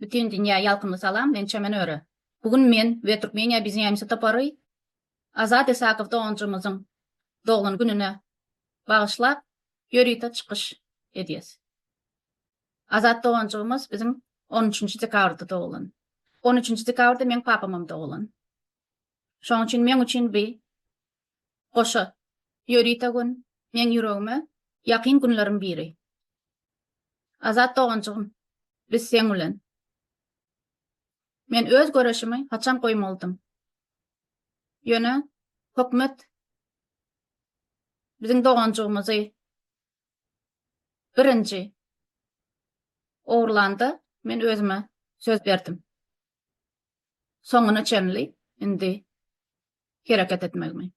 Bütin dünýä ýalkymly salam, men Çemen Öre. Bu gün men we Türkmeniýa biz Ýeňşi topary Azat Isakow doganjymyzyň doglan gününe bagyşlap ýörite çykyş edýäs. Azat doganjygymyz biziň on üçünji dekabrda doglan. On üçünji dekabrda meň papamam doglan. Şonuň üçin meň üçin bi Goşa, Ýörite gün, meň ýüregime ýakyn günleriň biri. Azat doganjygym, biz seň bilen. Men öz göreşimi haçan goýmalydym? Ýöne hökümet biziň doganjygymyzy birinji ogurlanda, men özüme söz berdim. Soňuna çenli indi hereket etmegimi.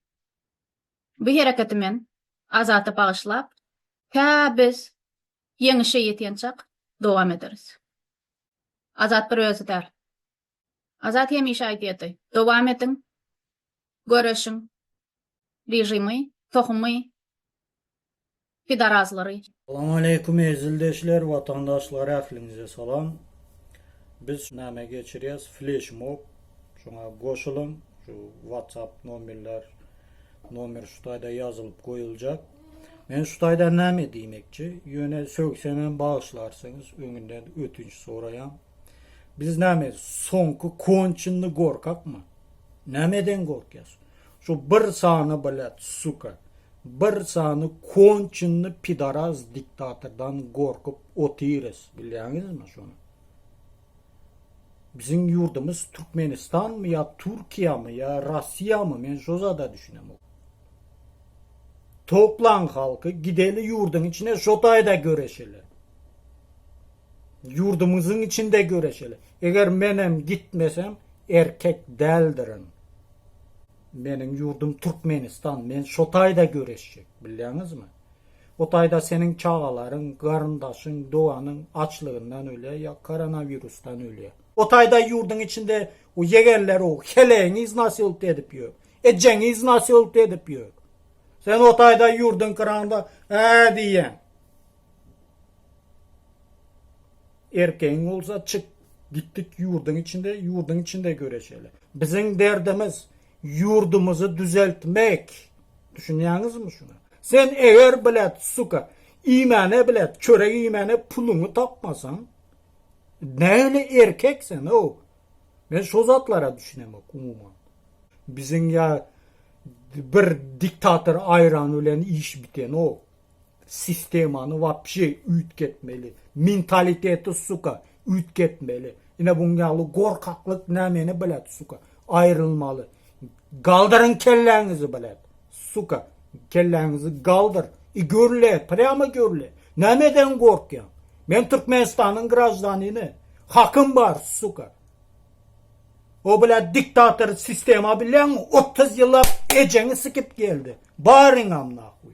Bu hereketi men Azata bagyşlap, tä biz ýeňişe ýetýänçak dowam ederis. Azat bir özi däl. Azat hemişe aýdýardy, dowam ediň, göreşiň, režimi, tohumy pidarazlary. Salam aleýkum eziz ildeşler watandaşlar ähliňize salam biz şu name geçirýäs fleşmob şoňa goşulyň şu whatsapp nomerler nomer şu taýda ýazylyp goýuljak men şu taýdan name diýmekçi ýöne sögsemem bagyşlarsyňyz öňünden ötünç soraýan biz name soňky konçinny gorkakmy nameden gorkýas şu bir sany blat suka Bir sany konçenli pidaraz diktatordan gorkup otyrys bilýäňizmi şony. Biziň ýurdumyz Türkmenistanmy ýa Türkiýämi ýa Rossiýamy men şo zada düşünemok. Toplaň halky gideli ýurduň içine şo taýda göreşeli. Ýurdumyzyň içinde göreşeli. Eger menem gitmesem erkek däldirin. Meniň ýurdum Türkmenistan, men şo taýda göreşjek, bilýäňizmi? O taýda seniň çagalaryň, garyndaşyň, doganyň açlygyndan ölýär ýa koronawirusdan ölýär. O taýda ýurduň içinde o ýegenler o helegiňiz nasylt edip ýör, ejeňiz nasylt edip ýör. Sen o taýda ýurduň kyranda, Ä diýýäň. Erkegiň bolsa çyk git git ýurdyň içinde ýurdyň içinde göreşeli. Biziň derdimiz ýurdumyzy düzeltmek düşünýäňizmi şuna. Sen eger blet suka iýmäne blet çörek iýmäne puluňy tapmasaň nähili erkek sen how. Men şo zatlara düşünemok umuman. Biziň ýa bir diktator aýrany bilen iş bitenok. Sistemany wapşe üýtgetmeli. Mentaliteti suka üýtgetmeli. Ine buň ýaly gorkaklyk nämeni bilet suka. Aýrylmaly. Galdyryň kelläňizi bilet. Suka. Kelläňizi galdyr. I görle, prýama görle. Nämeden gorkýaň? Men Türkmenistanyň graždanini. Hakym bar suka. O bilet diktator sistema bilýäňmi otuz ýyllap ejeňi sikip geldi. Baryňam nahuý.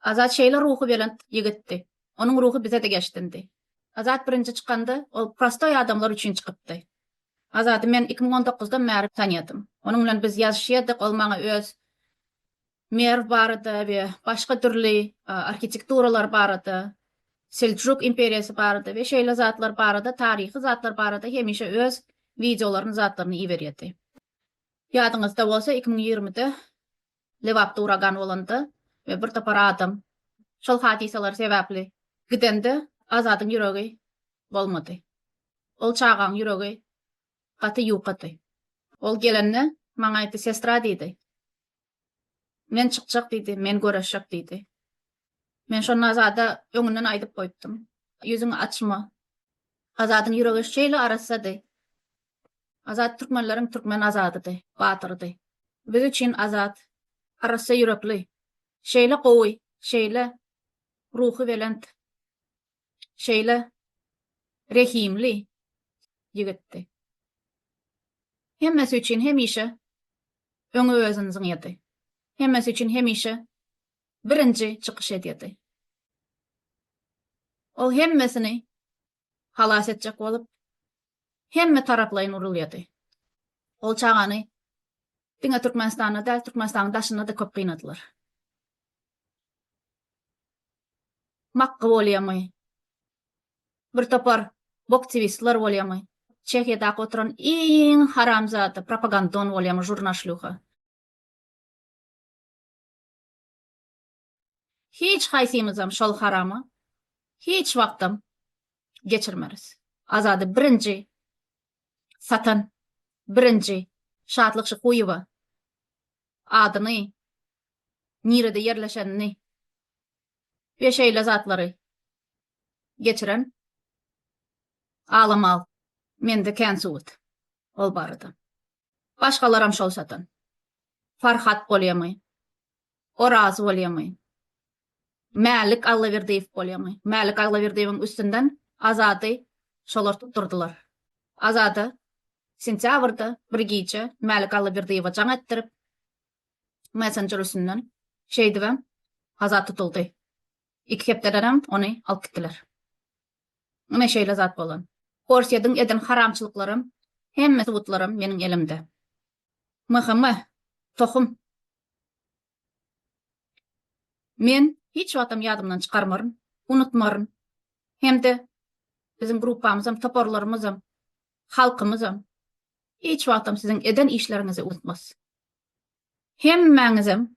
Azat şeýle ruhubelent ýigitdi. Onuň ruhy bize-de geçdindi. Azat birinji çykanda, ol prostoý adamlar üçin çykypdy. Azady men iki müň on dokuzdan bäri tanýadym. Onuň bilen biz ýazyşýardyk, ol maňa öz Merw barada we başga dürli arhitekturalar barada, Seljuk imperiýasy barada we şeýle zatlar barada, taryhy zatlar barada hemişe öz wideolaryny, zatlaryny iberýärdi. Ýadyňyzda bolsa, iki müň ýigrimide Lebapda uragan bolanda we bir topar adam şol hadysalar sebäpli gidende Azadyň ýüregi bolmady. Ol çagaň ýüregi gaty ýukady. Ol gelende maňa aýtdy, Sestra diýdi, Men çykjak diýdi, men göreşjek diýdi. Men şonda Azada öňünden aýdyp goýupdym, Ýüzüňi açma. Azadyň ýüregi şeýle arassady. Azat türkmenleriň türkmen azadydy, batyrydy. Biz üçin azat, arassa ýürekli, şeýle gowy, şeýle ruhubelent, şeýle rehimli ýigitdi. Hemmesi üçin hemişe öňe özüni zyňýardy. Hemmesi üçin hemişe birinji çykyş edýärdi. Ol hemmesini halas etjek bolup, hemme taraplaýyn urulýardy. Ol çagany diňe Türkmenistanda däl, Türkmenistanyň daşynda-da köp gynadylar. Makga bolýamy, bir topar boktiwistler bolýamy, Çehiýadaky oturan iň haramzada propagandon bolýamy, žurna-şlýuha. Hiç haýsymyzam şol haramy hiç wagtam geçirmeris. Azady birinji satan, birinji Şatlyk Şykuýewa adyny, nirede ýerleşenini we şeýle zatlary geçiren alamal mende kän subut ol barada. Başgalaram şol satan. Farhat bolýamy? Oraz bolýaňmy? Mälik Allaberdiýew bolýaňmy? Mälik Allaberdiýewiň üstünden Azady şolar tutdurdylar. Azada sentýabrda bir gije Mälik Allaberdiýewe jaň etdirip, messenjer üstünden şeýdibem Azat tutuldy. Iki hepdedenem ony alyp gitdiler. Ine şeýle zat bolan. Orsýediň eden haramçylyklaram, hemme subutlaram meniň elimde. Myhymy, tohum. Men hiç wagtam ýadymdan çykarmaryn, unutmaryn. Hem-de biziň gruppamyzam, toparlarymyzam, halkymyzam hiç wagtam siziň eden işleriňizi unutmaz. Hemmäňizem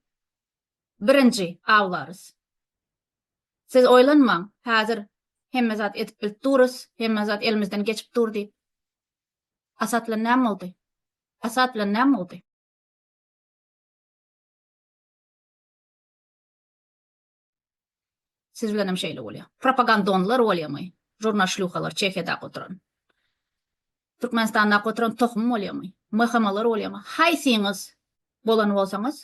birinji awlarys. Siz oýlanmaň, häzir hemme zat edip-bilip durys, hemme zat elimizden geçip dur diýip. Asat bilen näme boldy? Asat bilen näme boldy? Siz bilen hem şeýle bolýar. Propagandonlar bolýamy? Jurna şlýuhalar Çehiýada oturan. Türkmenistanda oturan tohum bolýamy? MHM-lar bolýamy? Haýsyňyz bolan bolsaňyz,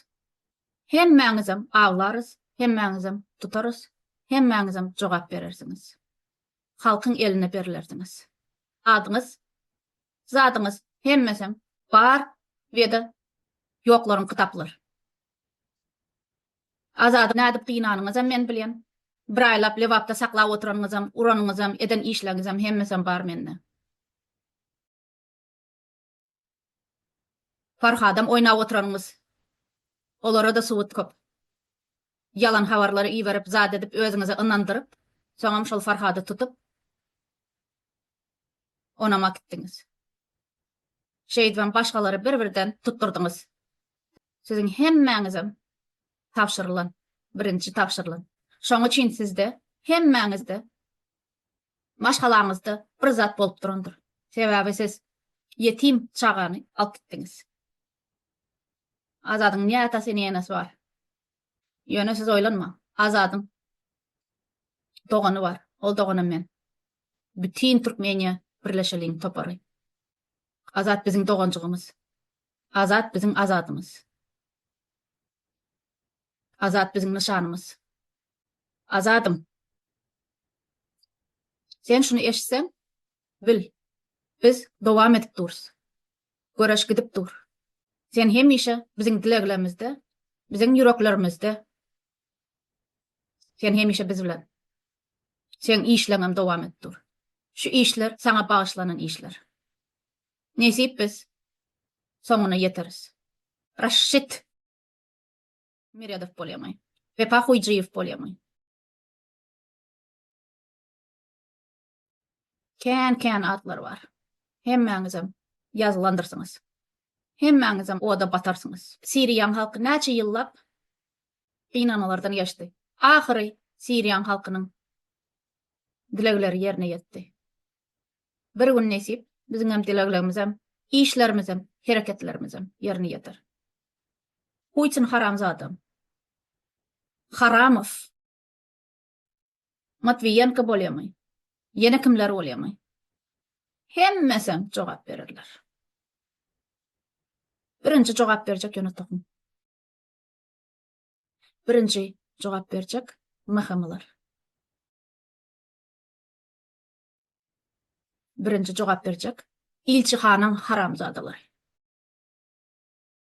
hemmäňizem aglarys, hemmäňizem tutarys, hemmäňizem jogap berersiňiz. halkyň eline berilerdiňiz. Adyňyz, zadyňyz hemmesem bar we-de ýoklaryň kitaplar. Azady nädip gynanyňyzam men bilýän. Bir aýlap Lebapda saklap oturanyňyzam, uranyňyzam, eden işleriňizem hemmesem bar mende. Farhadam oýnap oturanyňyz. Olarada subut köp. Ýalan habarlary iberip zat edip özüňizi ynandyryp, soňam şol Farhady tutup onam akitdiňiz. Şeýdibem başgalary bir birden tutdurdyňyz. Siziň hemmäňizem tabşyrylan, birinji tabşyrylan. Şoň üçin sizde hemmäňizde Maşgalaňyzda bir zat bolup durandyr. Sebäbi siz ýetim çagany alyp gitdiňiz. Azadyň ne atasy, ne enesi bar. Ýöne siz oýlanmaň. Azadyň dogany bar. Ol doganam men. Bütin Türkmeniýa birleşeliň topary. Azat biziň doganjygymyz. Azat biziň Azadymyz. Azat biziň nyşanymyz. Azadym. Sen şuny eşitseň, bil, biz dowam edip durus. Göreş gidip dur. Sen hemişe biziň dileglerimizde, biziň ýüreklerimizde. Sen hemişe biz bilen. Seň işleňem dowam edip dur. Şu işler saňa bagyşlanan işler. Nesip biz soňuna ýeteris. Raşşit! Meredow bolýaňy. Wepa Hoýjyýew bolýaňy. Kän kän atlar bar. Hemmäňizem ýazylandyrsyňyz. Hemmäňizem oda batarsyňyz. Siriýaň halky näçe ýyllap gynanmalardan geçdi. Ahyry Siriýaň halkynyň dilegleri ýerine ýetdi. Bir gün nesip biziňem dileglerimizem, işlerimizem, hereketlerimizem ýerine ýeter. Putin haramzada. Haramow. Matwiýenko bolýamy? Ýene kimler bolýamy? Hemmesem jogap bererler. Birinji jogap berjek ýöne tohum. Birinji jogap berjek mahamalar. Birinji jogap berjek ilçihanyň haramzadalar.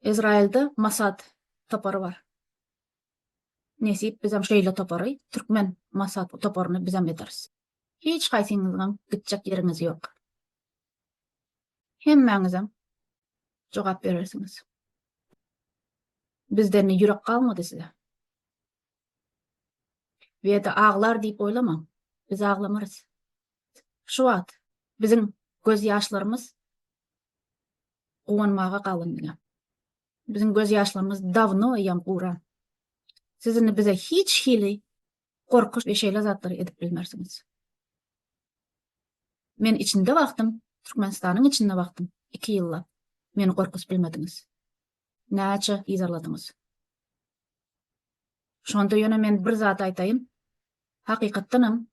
Izrailde Mossad topary bar. Nesip bizem şeýle topary, türkmen Mossad toparyny bizem ederis. Hiç haýsyňyzyňam gitjek ýeriňiz ýok. Hemmäňizem jogap berersiňiz. Bizden ne ýürek galmady size. Weda aglar diýip oýlamaň. Biz aglamarys. Şu wagt biziň göz ýaşlarymyz guwanmaga galyn diňe. Biziň göz ýaşlarymyz dawno ýam guran. Siz indi bize hiç hili gorkuş we şeýle zatlary edip bilmersiňiz. Men içinde wagtym, Türkmenistanyň içinde wagtym 2 ýylla meni gorkuz bilmediňiz. Näçe yzarladyňyz. Şonda ýöne men bir zat aýtaýyn. Hakykatdanam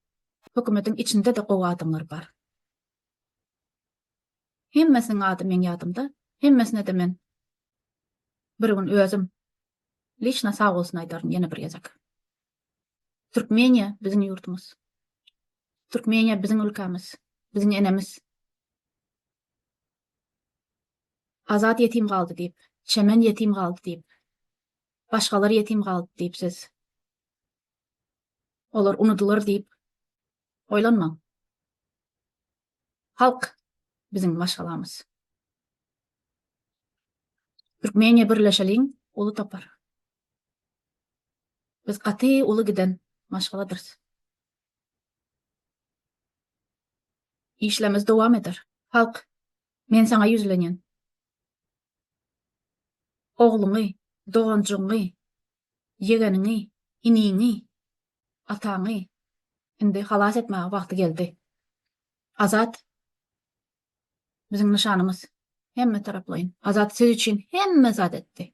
hökümetiň içinde-de gowy adamlar bar. Hemmesiniň ady meň ýadymda, hemmesine-de men bir gün özüm liçno sag bolsun aýdaryn ýene bir gezek. Türkmeniýa biziň ýurdumyz. Türkmeniýa biziň ülkämiz, biziň enemiz. Azat ýetim galdy diýip, Çemen ýetim galdy diýip, başgalar ýetim galdy diýip siz olar unudylar diýip oýlanmaň. Halk biziň maşgalamyz. Türkmeniýe birleşeliň uly topar. Biz gaty uly giden maşgaladyrys. Işlerimiz dowam eder. Halk men saňa ýüzlenýän. Ogluňy, doganjygyňy, ýegeniňi, iniňi Ataňy indi halas etmäge wagty geldi. Azat biziň nyşanymyz. Hemme taraplaýyn. Azat siz üçin hemme zat etdi.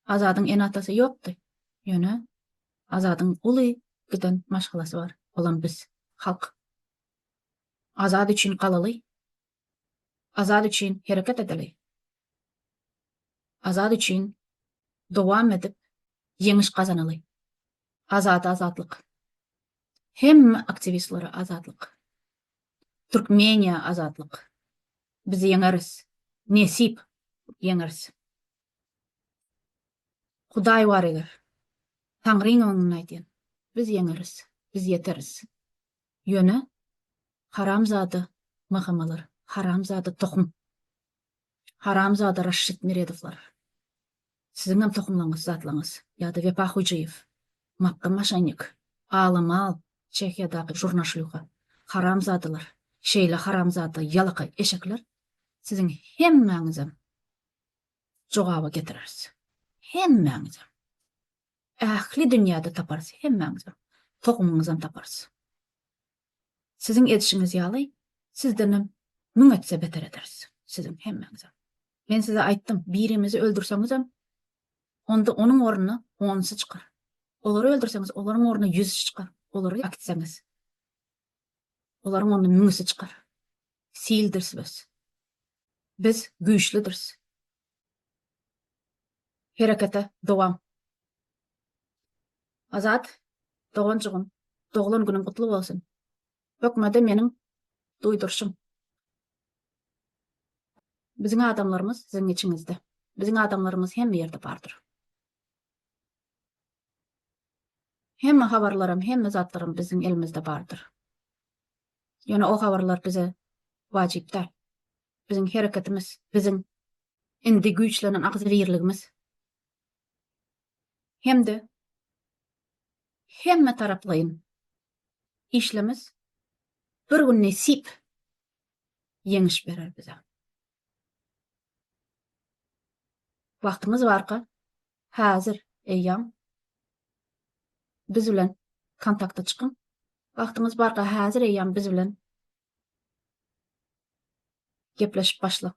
Azadyň ene-atasy ýokdy. Ýöne Azadyň uly giden maşgalasy bar. Olam biz, halk. Azat üçin galaly, Azat üçin hereket edeli! Azat üçin dowam edip ýeňiş gazanaly! Azada azatlyk! Hemme aktiwistlere azatlyk! Türkmeniýa azatlyk! Biz ýeňeris! Nesip, ýeňeris! Hudaý bar eger, Taňryň öňünden aýdýan, biz ýeňeris, biz ýeteris! Ýöne haramzada Magamalar, haramzada tohum, haramzada Raşşit Meredowlar, siziňem tohumlaryňyz zatlaryňyz ýa-da Wepa Hojaýew, Makga Maşennik, Ala Mal, Çehiýadaky Žurna Şlýuha, haramzadalar, şeýle haramzada ýalakaý eşekler, siziň hemmäňizem jogaba getireris. Hemmäňizem. Ähli dünýäde taparys hemmäňizem, tohumyňyzam taparys. Siziň edişiňiz ýaly, sizdenem müň etse beter ederis, siziň hemmäňizem. Men size aýtdym, birimizi öldürseňizem, onda onuň ornuna onsy çykar. Olary öldürseňiz, olaryň ornuna ýüzüsi çykar. Olary äkitseňiz, olaryň ornuna müňüsi çykar. Sildiris biz. Biz güýçlüdiris. Herekete dowam. Azat doganjygym doglan günüň gutly bolsun. Hökmede meniň duýdurşym. Biziň adamlarymyz siziň içiňizde. Biziň adamlarymyz hemme ýerde bardyr. Hemme habarlaram, hemme zatlaram biziň elimizde bardyr. Ýöne o habarlar bize wajyp däl. Biziň hereketimiz, biziň indi güýçlenen agzybirligimiz hem-de hemmetaraplaýyn işlemiz bir gün nesip ýeňiş berer bize. Wagtymyz barka Häzir eýýäm biz bilen kontakta çykyň. Wagtyňyz barka häzir eýýäm biz bilen gepleşip başlaň.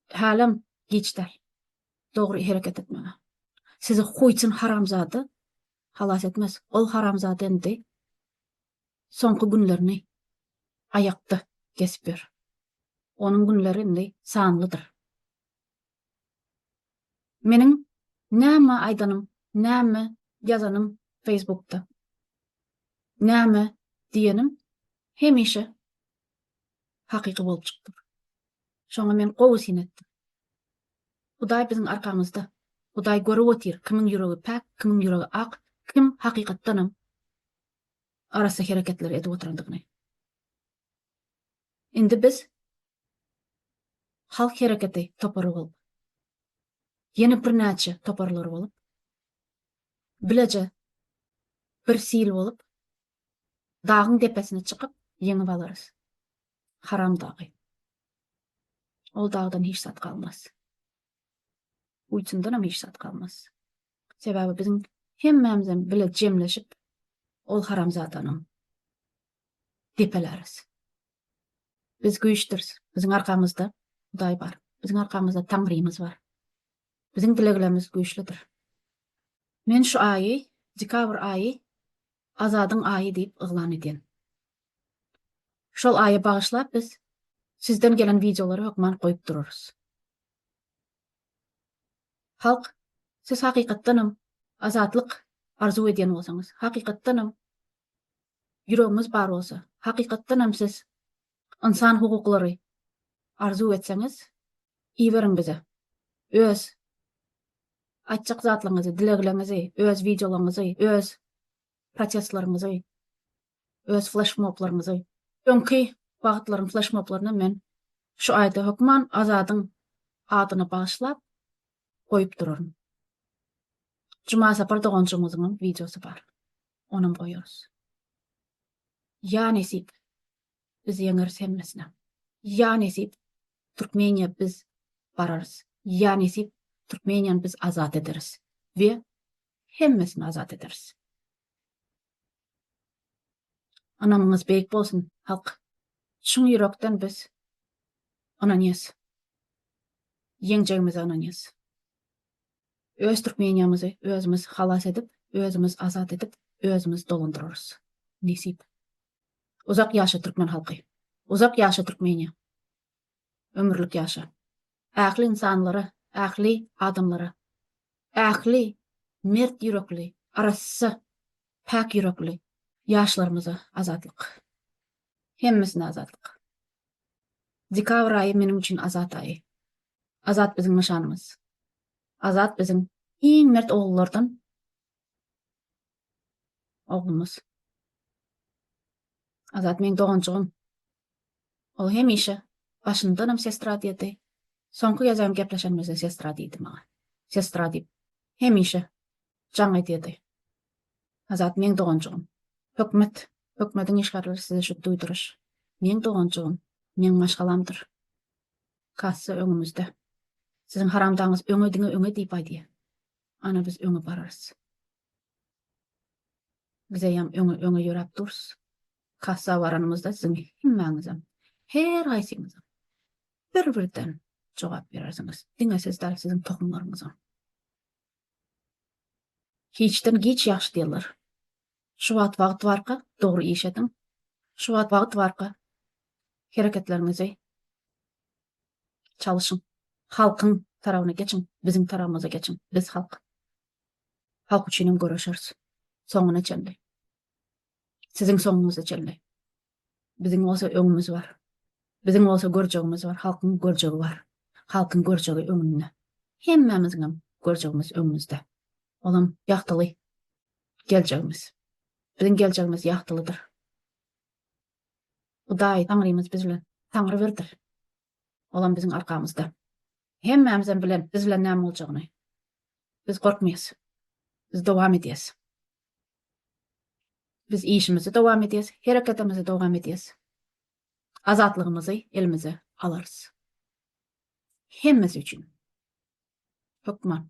Hälem giç däl. Dogry hereket etmäge. Sizi Huýçin haramzada halas etmez. Ol haramzada indi soňky günlerini aýakda kesip ýör. Onuň günleri indi sanlydyr. Meniň näme aýdanym, näme ýazanym Facebookda, näme diýenim hemişe hakyky bolup çykdyr. Şoňa men gowy syn etdim. Hudaý biziň arkamyzda. Hudaý görüp otyr, kimiň ýüregi päk, kimiň ýüregi ak, kim hakykatdanam arassa hereketleri edip oturandygyny. Indi biz Halk Hereketi topary bolup, ýene birnäçe toparlar bolup, bileje bir sil bolup, dagyň depesine çykyp, ýeňip alarys. Haram dagy. Ol dagdan hiç zat galmaz. Guýusundanam hiç zat galmaz. Sebäbi biziň hemmämizem bile jemleşip, ol haramzadanyň depeläris. Biz güýçdüris. Biziň arkamyzda Hudaý bar. Biziň arkamyzda Taňrymyz bar. Biziň dileglerimiz güýçlüdir. Men şu aýy, dekabr aýy Azadyň aýy diýip yglan edýän. Şol aýa bagyşlap biz sizden gelen wideolary hökman goýup durarys. Halk, siz hakykatdanam azatlyk arzuw edýän bolsaňyz, hakykatdanam ýüregiňiz bar bolsa, hakykatdan hem siz ynsan hukuklary arzuw etseňiz, iberiň bize. Öz aýtjak zatlaňyzy, dilegleňizi, öz wideolaňyzy, öz protestlaryňyzy, öz fleşmoblaryňyzy. Öňki wagtlaryň fleşmoblaryna men şu aýda hökman Azadyň adyna bagyşlap goýup duraryn. Jumasapar doganjygymyzyň hem wideosy bar. onam goýarys. Ýa nesip, biz ýeňeris hemmesinem. Ýa nesip, Türkmeniýa biz bararys. Ýa nesip, Türkmeniýany biz azat ederis we hemmesini azat ederis. Ynamyňyz beýik bolsun, halk! Çyn ýürekden biz ynanýas. Ýeňjegimize ynanýas. Öz Türkmeniýamyzy özümiz halas edip, özümiz azat edip, özümiz dolandyrarys. Nesip. Uzak ýaşa türkmen halky. Uzak ýaşa Türkmeniýa. Ömürlik ýaşa. Ähli ynsanlara, ähli adamlara, ähli mert ýürekli, arassa, päk ýürekli ýaşlarymyza azatlyk. Hemmesine azatlyk. Dekabr aýy meniň üçin azat aýy. Azat biziň nyşanymyz. Azat biziň iň mert ogullardan oglumyz. Azat meň doganjygym. Ol hemişe başyndanam sestra diýdi. Soňky gezegem gepleşenimizde sestra diýdi maňa. Sestra diýip hemişe jaň edýärdi. Azat, meň doganjygym. Hökmet, hökmediň işgärleri size şu duýduryş. Meň doganjygym, meň maşgalamdyr. Kassa öňümizde. Siziň haramdaňyz öňe diňe öňe diýip aýdýar. Ana biz öňe bararys. Biz eýýäm öňe öňe ýöräp durys. Kassa baranymyzda siziň hemmäňizem, her haýsyňyzam bir birden jogap berersiňiz. Diňe siz däl, siziň tohumlaryňyzam. Hiçden giç ýagşy diýerler. Şu wagt wagt barka dogry iş ediň. Şu wagt wagt barka hereketleriňizi çalyşyň. Halkyň tarabyna geçiň, biziň tarabymyza geçiň. Biz halk. Halk üçinem göreşeris. Soňuna çenli. Siziň soňuňyza çenli. Biziň bolsa öňümiz bar. Biziň bolsa görjegimiz bar, halkyň görjegi bar. Halkyň görjegi öňünde. Hemmämiziň hem görjegimiz öňümizde. Olam ýagtyly geljegimiz. Biziň geljegimiz ýagtylydyr. Hudaý Taňrymyz biz bilen Taňry birdir. Olam biziň arkamyzda. Hemmämiz hem bilen biz bilen näme boljagyny biz gorkmaýas. Biz dowam edýäs. Biz işimizi dowam edýäs, hereketimizi dowam edýäs. Azatlygymyzy elimize alarys. Hemmesi üçin. Hökman.